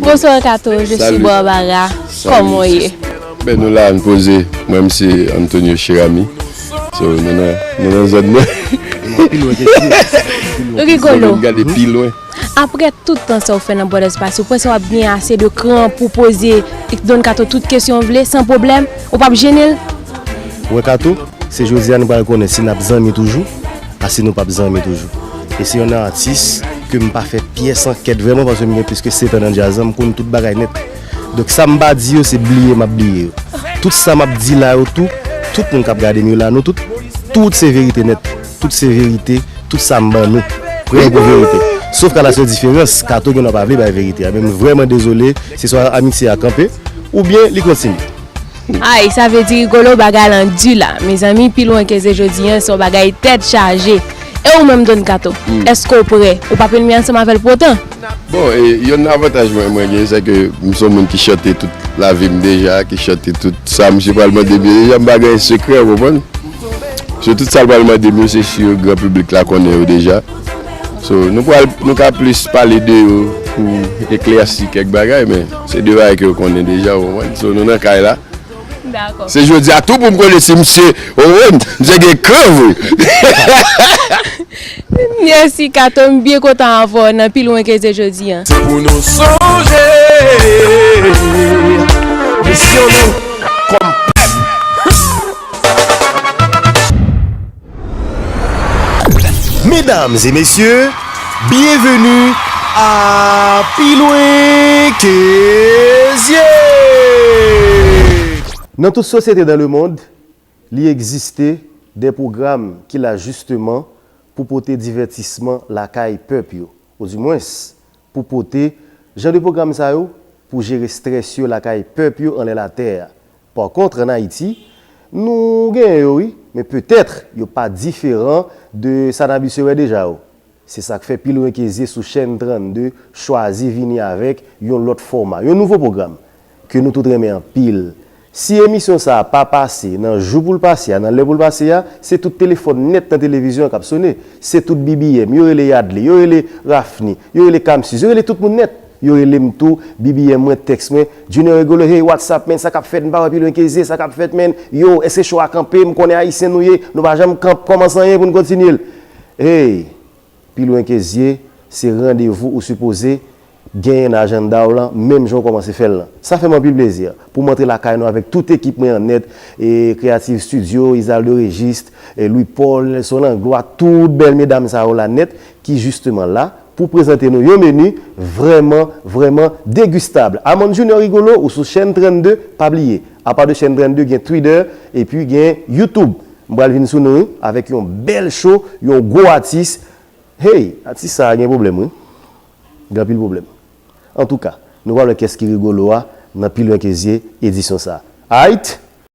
Bonsoir Kato, je suis Barbara, kòman w ye? Ben nou la, nou poze, mwen m se Antonio Cheramy, so nou nan zòn nan. Ou rigolo. Mwen m gade pi lwen. Apre tout tan sa ou fè nan Bòdè Espas, ou panse w ap gen ase de kran pou w poze Don Kato tout kesyon ou vle san pwoblèm? Ou p ap jene l? Wè Kato, se jodi a nou pral konnen si n ap zanmi toujou a si nou p ap zanmi toujou. E se yon atis ke m pa fè pyès ankèt vrèman paske m gen plis ke setan nan djaz lan, m konn tout bagay nèt. Donk sa m pa di yo se bliye m ap bliye yo. Tout sa m ap di la yo tou, tout moun k ap gade m yo la, nou tout, tout se verite nèt. Tout se verite, tout sa m ban nou, prè pou verite. Sof ka la sèl diferans, Kato gen dwa pa vle bay verite a. Men m vrèman dezole, se swa amitye a kanpe, oubyen li kontinye. Ayy sa vle di Rigolo bagay lan du la mezanmi pi lwen ke ze jodi an se yon bagay tèt chaje e ou menm Don Kato èske ou prè ou pa plenmi ansanm avèl pou otan? Bon e yonn nan avantaj mwen mwen gen sèke m son moun ki chante tout lavim deja ki chante tout sa misye pral mande m yo deja m pa gen sekrè ou konprann. So tout sal pral mandem yo se sur gran piblik la konnen yo deja. So nou pral nou ka plis pale de yo pou eklèsi kèk bagay men se de bagay ke yo konnen deja ou konprann. So nou nan kay la. Dakò. Se jodia tou poum konnen si misye ou konprann misye gen kran vre. Mèsi Kato m byen kontan avè w nan pi lwen ke se jodi an. Se pou nou sonje misyon nou kòm pèp. Medam e mesye, byenveni a Pi lwen ke zye! Nan tout sosyete dan lemond, li egziste de pwogram ki la jisteman pou pote divètisman lakay pèp yo, odimwens, pou pote jan de pwogram sa yo pou jere strès yo lakay pèp yo anlè latè a. Par contre en Haïti, nou genyen yo wi, men peut-être yo pa diferan de sa n abitye wè deja yo. Se sa k fè pil renkezye sou chèn 32 chwazi vini avèk yon lòt fòma, yon nouvo pwogram ke nou tout renmen anpil. Si emisyon sa a pa pase nan jou pou l pase a, nan lè pou l pase a, se tout telefòn nèt nan televizyon an k ap sone, se tout BBM, yo rele Yadley, yo rele Raphny, yo rele Camsus, yo rele tout moun nèt. Yo relem tou bbm mwen text mwen Junior Rigolo hey what's up man sa kap fèt m pa wè pilwen keze sa kap fèt man yo eske show a kanpe m konnen ayisyen nou ye nou pa janm kanp kòmanse anyen pou n kontinye l hey pilwen keze se randevou ou sipoze genyen nan ajanda w lan menm jan w kòmanse fè l lan sa fè m anpil plezi pou m antre lakay nou avèk tout ekip mwen an nèt creative studio Izaldo Registe Louis Paul Nelson Langlois tout bèl medam sa yo la nèt ki jisteman la pou prezante nou yon menu vrèman vrèman degustable Amand Junior Rigolo ou sou chèn 32 pa bliye apa de chèn 32 gen twitter epi gen youtube m pral vin sou nou wi avèk yon bèl show yon gwo atis hey atis sa gen pwoblèm wi gen anpil pwoblèm antouka nou pral wè kès ki Rigolo a nan pi lwen ke zye edisyon sa ayt.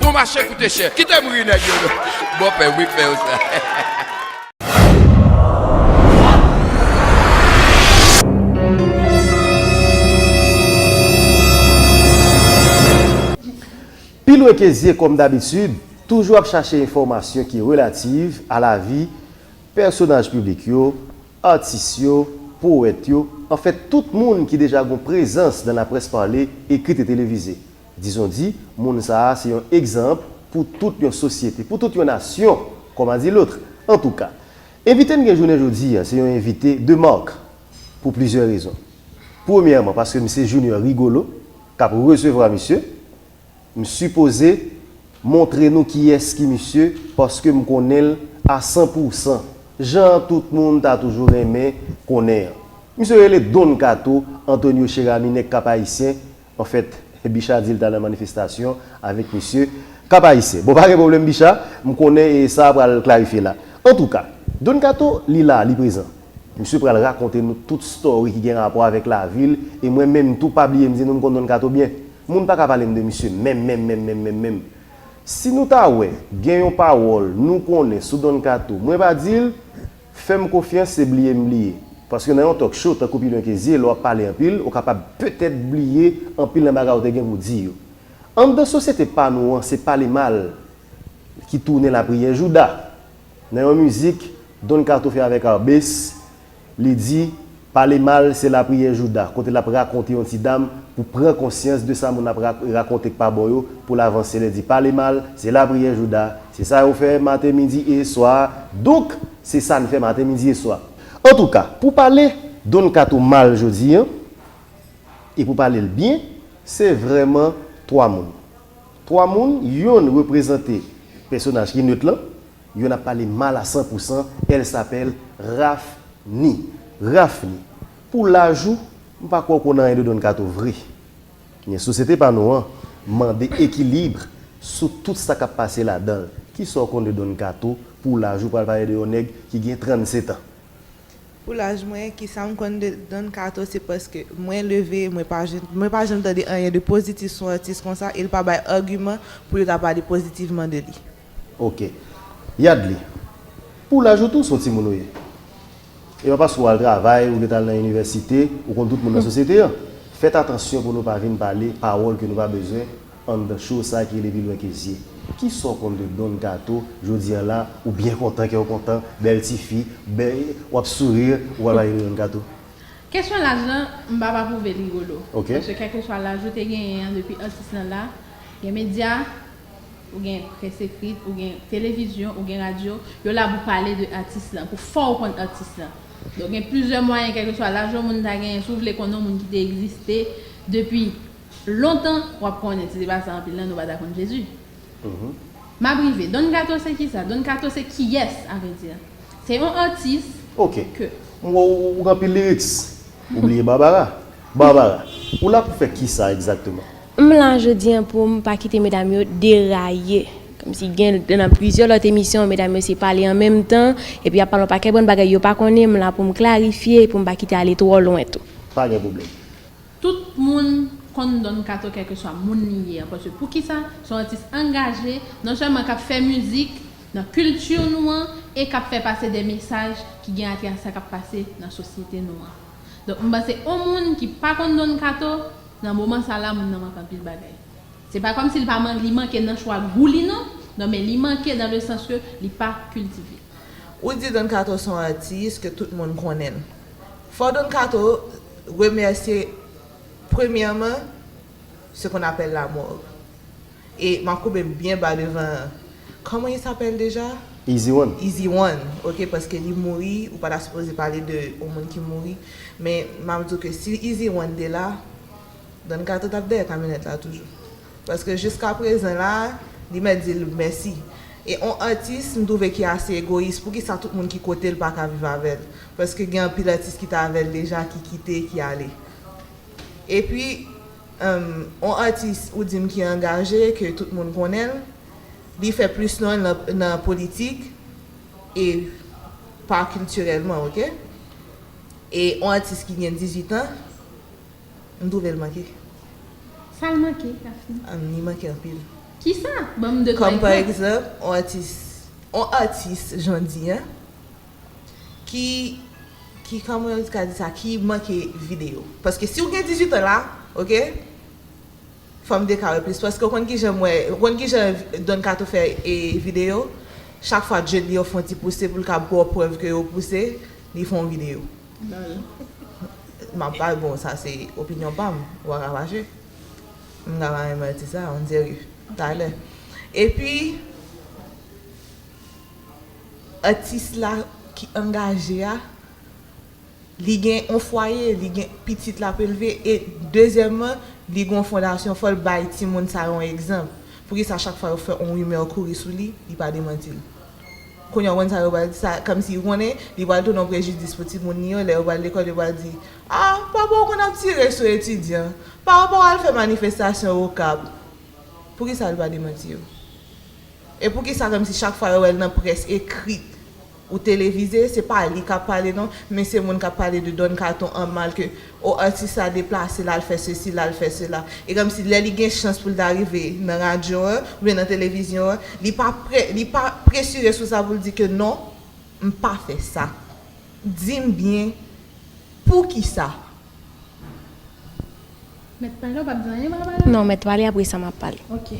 Bon mache koute chè. Kite m ri nèg yo non. Bon pè wi k fè yo sa. Pi lwen ke zye kòm dabitid, toujou ap chache enfòmasyon ki relativ a lavi pèsonaj piblik yo, atis yo, powèt yo, anfen tout moun ki deja gon prezans nan laprès pale, ekrit e televize. Dizondi, moun sa a se yon egzanp pou tout yon sosyete, pou tout yon nasyon, kòm a di lotr. Antouka, envite n gen jounen jodi a se yon envite de marque pou plizyè rezon. Premyèman, paske m se Junior Rigolo k ap resevwa misye, m sipoze montre nou kiyès ki misye paske m konnen l a san pou san, jan tout moun ta toujou renmen konnen an. Misye rele Don Kato Antonio Cheramy nèg Kap-Ayisyen, Anfèt, Bicha di l ta nan manifestasyon avèk misye. Kap Ayisyen. Bon, pa gen pwoblèm Bicha, m konnen e sa a pral klarifye la. Antouka, Don Kato, li la, li prezan. Misye pral rakonte nou tout story ki gen rapò avèk lavi l e mwen menm tou, pa bliye m di nou m konn Don Kato byen. Moun pa ka pale m de misye menm menm menm menm menm menm. Si nou ta wè gen yon pawòl nou konnen sou Don Kato mwen pa di l, Fèm konfyans se bliye m bliye. Paske nan yon talk show tankou pi lwen ke zye lè w ap pale anpil ou kapab petèt bliye anpil nan bagay ou te gen pou di yo. Anndan sosyete pa nou an se pale mal ki tounen lapriyè jouda. Nan yon mizik Don Kato fè avèk Arbes li di Pale mal se lapriyè jouda kote lap rakonte yon ti dam pou pran konsyans de sa moun ap rakonte k pa bon yo poul avanse lè di pale mal se lapriyè jouda se sa yo fè maten midi e swa donk se sa n fè maten midi e swa antouka pou pale Don kato mal jodi an e pou pale l byen se vrèman 3 moun 3 moun yonn reprezante pèsonaj ki neut lan Yo nap pale mal a san pou san elle s'appelle Raphni Raphni pou laj ou m pa kwè w konn anyen de Don Kato vre men sosyete pa nou an mande ekilibre sou tout sa kap pase ladan l kisa w konn de Don Kato pou laj ou pral pale de yon nèg ki gen 37 ans. Pou laj mwen kisa m konn de Don Kato se paske mwen leve mwen pa mwen pa janm tande anyen de pozitif sou atis konsa e l pa bay agiman pou yo ta pale pozitivman de li. Ok. Yadly, pou laj ou tou, s on timoun ou ye. E pa paske ou al travay, ou ret al nan inivèsite, ou konn tout moun nan sosyete an. Fèt atansyon pou nou pa vin pale pawòl ke nou pa bezwen anndan show sa ki rele Pi lwen ke zye. Kisa w konn de Don Kato jodi an la, ou byen kontan, kè w kontan, bèl ti fi, bè, w ap sourire, ou pral pale de Don Kato? Kesyon laj lan, m p ap apwouve Rigolo. Ok. Paske kèlkeswa laj ou te genyen an depi atis lan la, gen medya, Ou gen près ekrit, ou gen televizyon, ou gen radyo, yo la pou pale de atis lan, pou fè w konn atis lan. Donk gen plizyè mwayen kèlkeswa laj yon moun ta genyen, si w vle konnen yon moun ki te egziste depi lontan, w ap konnen, si se pa sa anpil nan nou pa ta konn Jezi. M ap rive. Don Kato se kisa? Don Kato se kiyès avèdi? Se yon atis ke. Ok. M wè w gen anpil liriks. Ou bliye Barbara. Barbara, ou la pou fè kisa egzakteman? M la jodi an pou m pa kite medam yo deraye. Kòmsi gen nan plizyè lòt emisyon medam yo se pale an menm tan, epi y ap pale yon pakèt bon bagay yo pa konnen, m la pou m klarifye e pou m pa kite ale twò lwen tou. Pa gen pwoblèm. Tout moun konn Don Kato kèlkeswa moun li ye an paske poukisa? Se yon atis angaje, non sèlman k ap fè mizik nan kilti nou an e k ap fè pase de mesaj ki gen atrè a sa k ap pase nan sosyete nou an. Donk m panse on moun ki pa konn Don Kato, nan moman sa la moun nan manke anpil bagay. Se pa kòmsi li pa man li manke nan chwa gou li non, non men li manke dan le sans ke li pa kiltive. Ou di Don Kato son atis ke tout moun konnen. Fò Don Kato remèsye premyèman ce qu'on appelle la morgue e map koubem byen ba devan comment il s'appelle deja? Easy one. Easy one ok paske li mouri ou pa ta sipoze pale de yon moun ki mouri men map diw ke si easy one te la Don kato tap dèyè kamyonèt la toujou paske jiska prezan la li mèt dil mèsi e on atis m twouve ki ase egoyis poukisa tout moun ki kotel paka viv avèl paske gen anpil atis ki t avèl deja ki kite ki ale. Epi humm on atis ou dim ki angaje ke tout moun konnenl li fè plis nonl nan politik e pa kiltirèlman ok e on atis ki gen 18 ans m twouvel manke. Sal manke Daphnée? Humm li manke anpil. Kisa? Banm 2 3 egzanp. Kòm pa egzanp on atis on atis jan di an. Ki ki kòman yo ka di sa ki manke video. Paske si ou gen 18 ans la ok fòm te ka wè plis paske ou konn kijan m wè ou konn kijan Don Kato fè video chak fwa djed li yo fon ti pouse poul ka baw prèv ke yo pouse li fon video map bay bon sa se opinyon pam ou pa ka fache m ka bay manti sa on dirait talè epi Atis la ki angaje a li gen yon fwaye, li gen pitit l ap elve e dezyèmman li gen yon fondasyon fò l bay timoun sa yo yon egzanp. Poukisa chak fwa yo fè yon rimè kouri sou li, li pa demanti l? Kounye a ou konn sa yo pral di sa kòmsi yo konnen li pral tounen yon prejidis pou timoun li yo lè yo pral lekòl yo pral di a papa w konn ap tire sou etidyan, papa w al fè manifestasyon Okap. Poukisa l pa demanti yo? E poukisa menm si chak fwa yo wèl nan près ekrit ou televize se pa li kap pale non men se moun kap pale de Don Kato an mal ke oh atis la deplase lal fè sesi lal fè sela e kòmsi lè li gen chans poul ta rive nan radyo an oubyen nan televizyon an li pa prè li pa presire sou sa poul di ke non m pa fè sa dim byen poukisa. Mèt pale ou pap di anyen m ap pale? Non mèt pale apresa map pale. Ok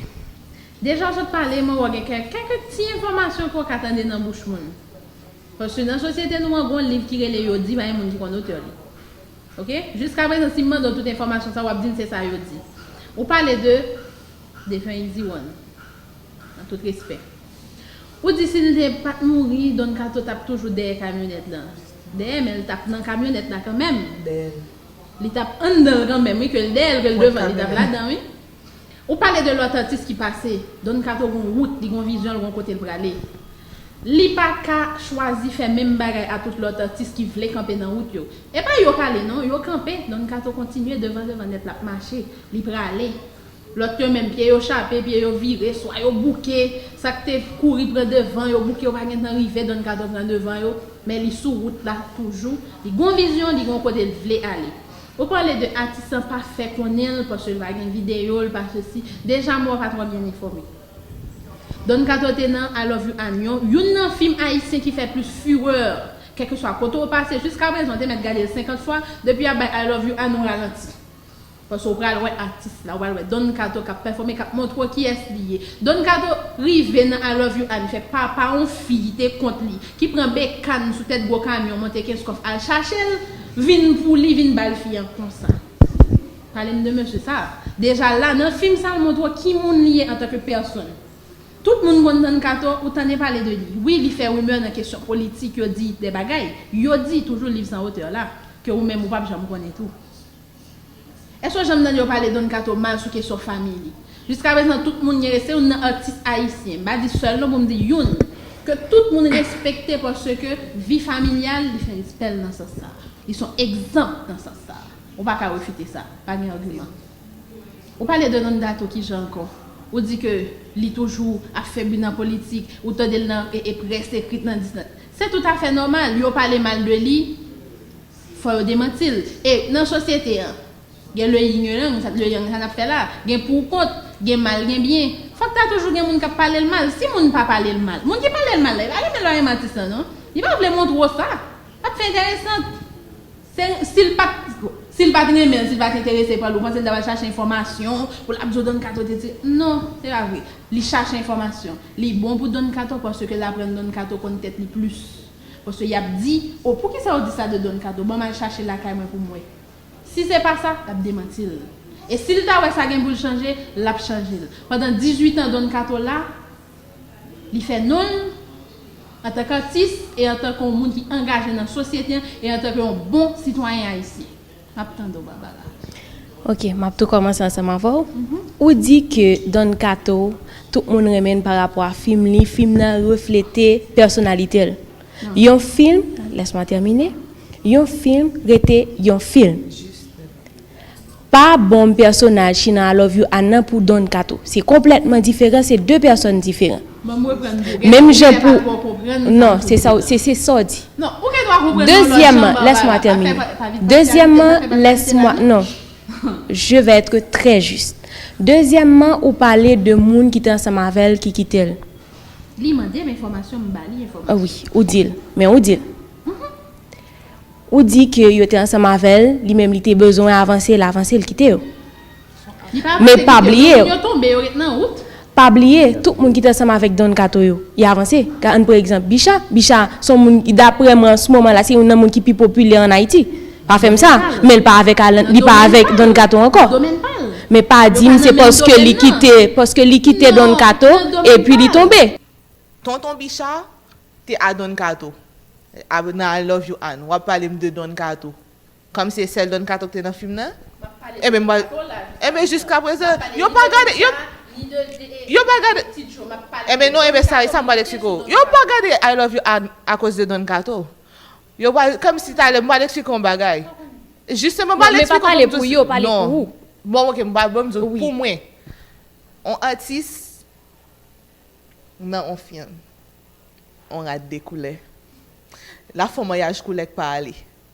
Deja sot pale mwen wè w gen kè kèkèk ti enfòmasyon ke w ka tande nan bouch moun. Paske nan sosyete nou an gon liv ki rele yo di pa gen moun ki konn otè li. Ok. Jiska prezan si m mande w tout enfòmasyon sa w ap di m se sa yo di. Ou pale de defen Easy One. Nan tout respè. Ou di si l te pa t mouri Don Kato t ap toujou dèyè kamyonèt lan. Dèyè men l t ap nan kamyonèt la kanmèm. Dèyè l. Li t ap anndan l kanmèm wi ke l dèyè l ke l devan l li t ap ladan wi. Ou pale de lòt atis ki pase. Don kato gon wout, li gon vizyon, l gon kote l prale. Li pa ka chwazi fè menm bagay a tout lòt atis ki vle kanpe nan wout yo. E pa yo k ale non, yo kanpe, Don kato kontinye devan devan nèt l ap mache, li prale. Lòt yo menm, pye yo chape, pye yo vire, swa yo bouke, sa k te kouri pran devan yo bouke yo pa gen tan rive, Don kato pran devan yo, men li sou wout la toujou, li gon vizyon, li gon kote l vle ale. Ou pale de atis lan pa fè konnen l paske l pa gen video l pa sesi deja mwen pa trò byen enfòme Don kato te nan I love you Anion youn nan fim ayisyen ki fè plis fureur kèlkeswa kote w pase jiska prezan w te mèt gade l 50 fwa depi yap bay I love you Ani w ralanti paske w pral wè atis la w pral wè Don kato kap pèfòme kap montre w kiyès li ye Don kato rive nan I love you Ani fè papa yon fi ki te kont li ki pran bekàn sou tèt gwo kamyon monte kenskof al chache l Vin pou li vin bal fi an konsa. Palem de mesye sa. Deja la nan fim sa montre ki moun li ye antanke pèsonn. Tout moun konn Don kato ou tande pale de li. Wi li fè rumeur nan kesyon politik yo di de bagay. Yo di toujou liv san otè la. Ke ou menm ou pap janm konnen tou. Èske w janm tande yo pale Don Kato mal sou kesyon famiy li? Jiska prezan tout moun gen respè, se youn nan atis ayisyen, m pa di sèl non pou m di youn, ke tout moun respekte paske vi familyal li fè respè l nan sans sa a. Li s on egzanp nan sans sa a. Ou pa ka refite sa. Pa gen agiman. Ou pale de Don Kato kijan ankò? Ou di ke li toujou ap fè bri nan politik, ou tande l nan près ekrit nan di sa. Se toutafè nòmal. Yo pale mal de li. Fò yo demanti l. E nan sosyete an? Gen le yin le yang, le yang sa n ap fè la. Gen pou ou kont, gen mal gen byen. Fòk ta toujou gen moun k ap pale l mal. Si moun pa pale l mal. Moun ki pale l mal la, li pa renmen lè w renmen atis lan non. Li pa vle montre w sa. L ap fè enteresant. Se si l pa t si l pa t renmen l, si l pa t enterese pa l, ou panse l ta pral chache enfòmasyon pou l ap di w Don Kato te di Non, se pa vre. Li chache enfòmasyon. Li bon pou Don Kato paske l aprann Don Kato konn tèt li plis. Paske yap di, oh poukisa ou di sa de Don Kato, banm al chache lakay mwen poum wè. Si se pa sa, lap demanti l. E si l ta wè sa gen pou l chanje, lap chanje l. Pandan 18 an Don Kato la, li fè non l antanke atis e antanke yon moun ki angaje nan sosyete an e antanke yon bon sitwayen ayisyen. Map tande w Barbara. Ok map tou kòmanse ansanm avè w. Ou di ke Don Kato tout moun renmen l pa rapò a fim li, fim nan reflete pèsonalite l. Yon film, laisse-moi terminer, yon film rete yon film. Pa bonm pèsonaj Shinan I love you a nan pou Don Kato. Se konplètman diferan, se 2 pèsòn diferan. Menm jan pou, non, se sa w, se se sa w di. Dezyèmman, lès mwa tèmine. Dezyèmman, lès mwa, non, je vè ètre trè jis. Dezyèmman, ou pale de moun ki te ansanm avè l ki kite l. Li mande m enfòmasyon, m ba li enfòmasyon. Wi, ou di l, men ou di l. Ou di ke yo te ansanm avè l, li menm li te bezwen avanse, l avanse, l kite yo. Men pa bliye, pa bliye tout moun ki te ansanm avèk Don Kato yo, y avanse. Ka ann pre egzanp Bicha. Bicha se yon moun, daprè mwen an s moman la, se youn nan moun ki pi popilè ann Ayiti. Pa fè m sa. Men l pa avèk Alan, li pa avèk Don Kato ankò. Men pa di m se paske li kite, paske li kite Don Kato, epi li tonbe. Tonton Bicha te a Don Kato. Nan I love you Ann, w ap pale m de Don Kato. Kòm se sèl Don Kato ki te nan fim nan, enben mwen pral, enben jiska prezan, yo pa gade, yo, yo pa gade, enben non, enben sa, sa mwen pral eksplike w, yo pa gade I love you Ann akoz de Don Kato. Yo pral, kòm si talè mwen pral eksplike w yon bagay. Jisteman mwen pral eksplike w pou m di w, non. Men pa pale pou yo, pale pou ou. Bon ok, mwen pral di w pou mwen. Yon atis nan yon fim, yon rad de koulè, l ap fè yon maryaj koulè k pa ale.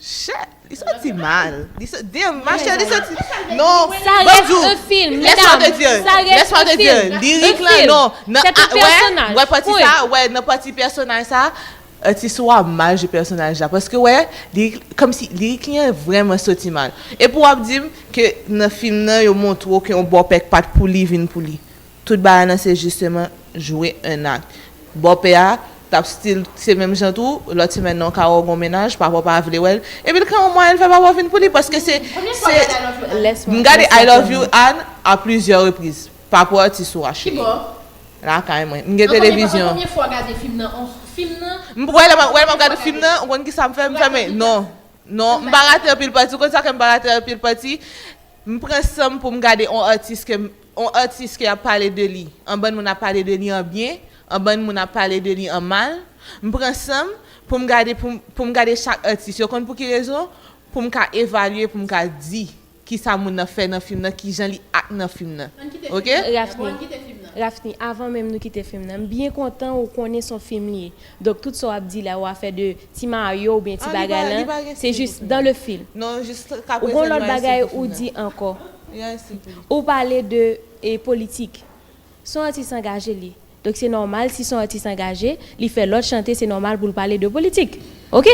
Shit li santi mal li sa damn ma chè li santi non bon di w lès mwen te di l lès mwen te di l lirik lan non nan a wè wè pati sa wè nan pati pèsonaj sa atis ou a mal jwe pèsonaj la paske wè lirik kòmsi lirik li an vrèman soti mal epi w ap di m ke nan fim nan yo montre w ke yon bòpè k pa t pou li vin pou li Tout bagay lan se jisteman jwe un acte. Bòpè a tap still se menm jan tou, lòt semèn nan w ka wè w gon mennaj, papa w pa vle wè l, epi l ka yon mwayen l fè papa w vin pou li paske se se m gade I love you Anne a plizyè repriz pa pou atis ou a cheri lakay mwen m gen televizyon. M wè lè m ap gade fim nan ou konn kisa m fè m fèmen non non m pa rate anpil pati ou konn sa fè m pa rate anpil pati m pran san m pou m gade on atis ke m On atis ke yap pale de li, on bann moun ap pale de li an byen, on bann moun ap pale de li an mal, m pran sanm poum gade poum poum gade chak atis, yo konn pou ki rezon? poum ka evalye poum ka di kisa moun nan fè nan fim nan kijan li act nan fim nan ok. Raphni, Raphni avan menm nou kite fim nan m byen kontan ou konnen son fim li ye donk tout sa wap di la ou afè de ti Mario oubyen ti bagay lan se jis dans le film ou gon lòt bagay ou di ankò. Ou pale de politik. Son atis angaje li. Donk se nòmal si son atis angaje, li fè lòt chante se nòmal pou l pale de politik. Ok.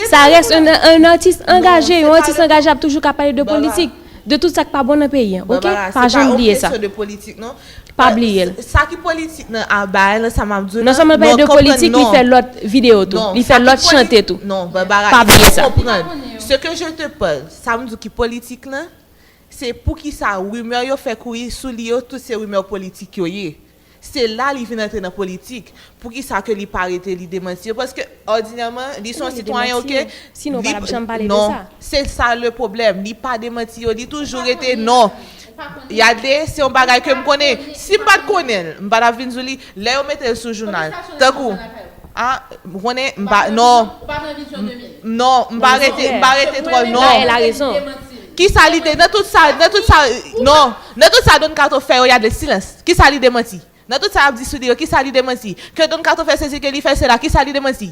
Sa rès un artiste engagé. Yon atis angaje ap toujou ka pale de politik. De tout sa k pa bon nan peyi an. Ok. Pa janm bliye sa. Barbara, se pa yon kesyon de politik non. Pa bliye l. Sa ki politik nan bagay lan, sa m ap di w lan. Non sèlman l pale de politik, li fè lòt videyo tou. Li fè lòt chante tou. Non, Barbara, pa bliye sa. Se ke je te pale, sa m di w ki politik lan, Se poukisa rumeur yo fè kouri sou li yo tout se rumeur politik yo ye. Se la li vin antre nan politik. Poukisa ke li pa rete li demanti yo paske òdinèman li son sitwayen ok li non se sa le pwoblèm li pa demanti yo li toujou rete non. Yade se yon bagay ke m konnen si m pat konnenl m pa tap vin di w li. Lè yo mete l sou jounal. Tankou a m konnen m pa non m non m pa rete m pa rete twò non kisa li de nan tout sa nan tout sa non nan tout sa Don Kato fè yo y a de silans kisa li demanti nan tout sa y ap di sou li yo kisa li demanti ke Don Kato fè sezi ke li fè sela kisa li demanti.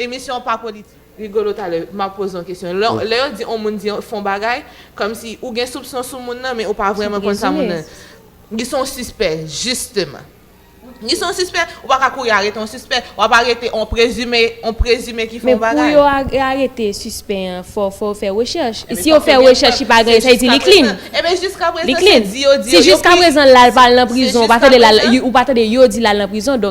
Emisyon an pa politik. Rigolo talè m ap poze yon kesyon. Lè yo di yon moun di fè yon bagay, kòmsi ou gen soupson sou moun nan men ou pa vrèman konn sa moun nan. Li se yon sispè, jisteman. Li se yon sispè, ou pa ka kouri arete yon sispè. W ap arete yon prezime, yon prezime ki fè yon bagay. Men pou yo arete sispè an, fò yo fè rechèch. Si yo fè rechèch li pa gen, sa vle di li clean. Enben jiskaprezan se di yo di yo. Si jiskaprezan l la l pa al nan prizon, ou pa tande yo di l al nan prizon.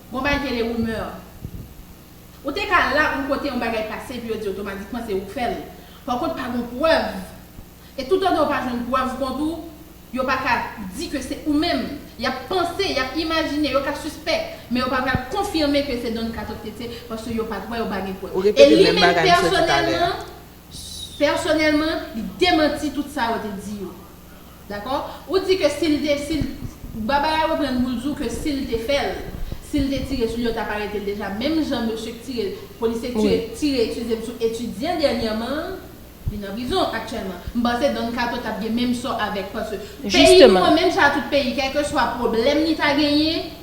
Bon bay tele rumeur. Ou te ka la pou kote yon bagay pase epi yo di otomatikman se ou k fèl. Par kont pa gon prèv. E tout antan ou pa jwenn prèv kont ou, yo pa ka di ke se ou menm. Yap panse, yap imajine, yo ka sispèk, men yo pa pral konfime ke se Don Kato k te tiye paske yo pat wè, yo pa gen prèv. Ou E repete li menm menm bagay misye di talè a. pèsonèlman, pèsonèlman, li demanti tout sa yo te di yo. Dakò? Ou di ke si l te, si l, Baba a reprann pou l di w ke si l te fè l, si l te tire sou li yo t ap arete l deja menm jan mesye k tire, polisye k tire, tire ekize m sou etidyan dènyèman an, li nan prizon aktyèlman. M panse Don Kato t ap gen menm sò avèk paske peyi nou an menm jan a tout peyi kèlkeswa pwoblèm li ta genyen,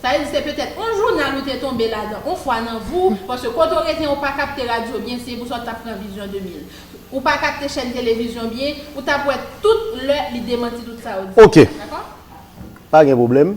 Sa vle di se petèt on jounal ou te tonbe ladan on fwa nan vi w, paske kote w rete an ou pa kapte radyo byen, se pou sa w t ap pran Vision 2000. Ou pa kapte chèn televizyon byen, ou t ap wè tout lè li demanti tout sa yo di. Ok. Dakò? Pa gen pwoblèm.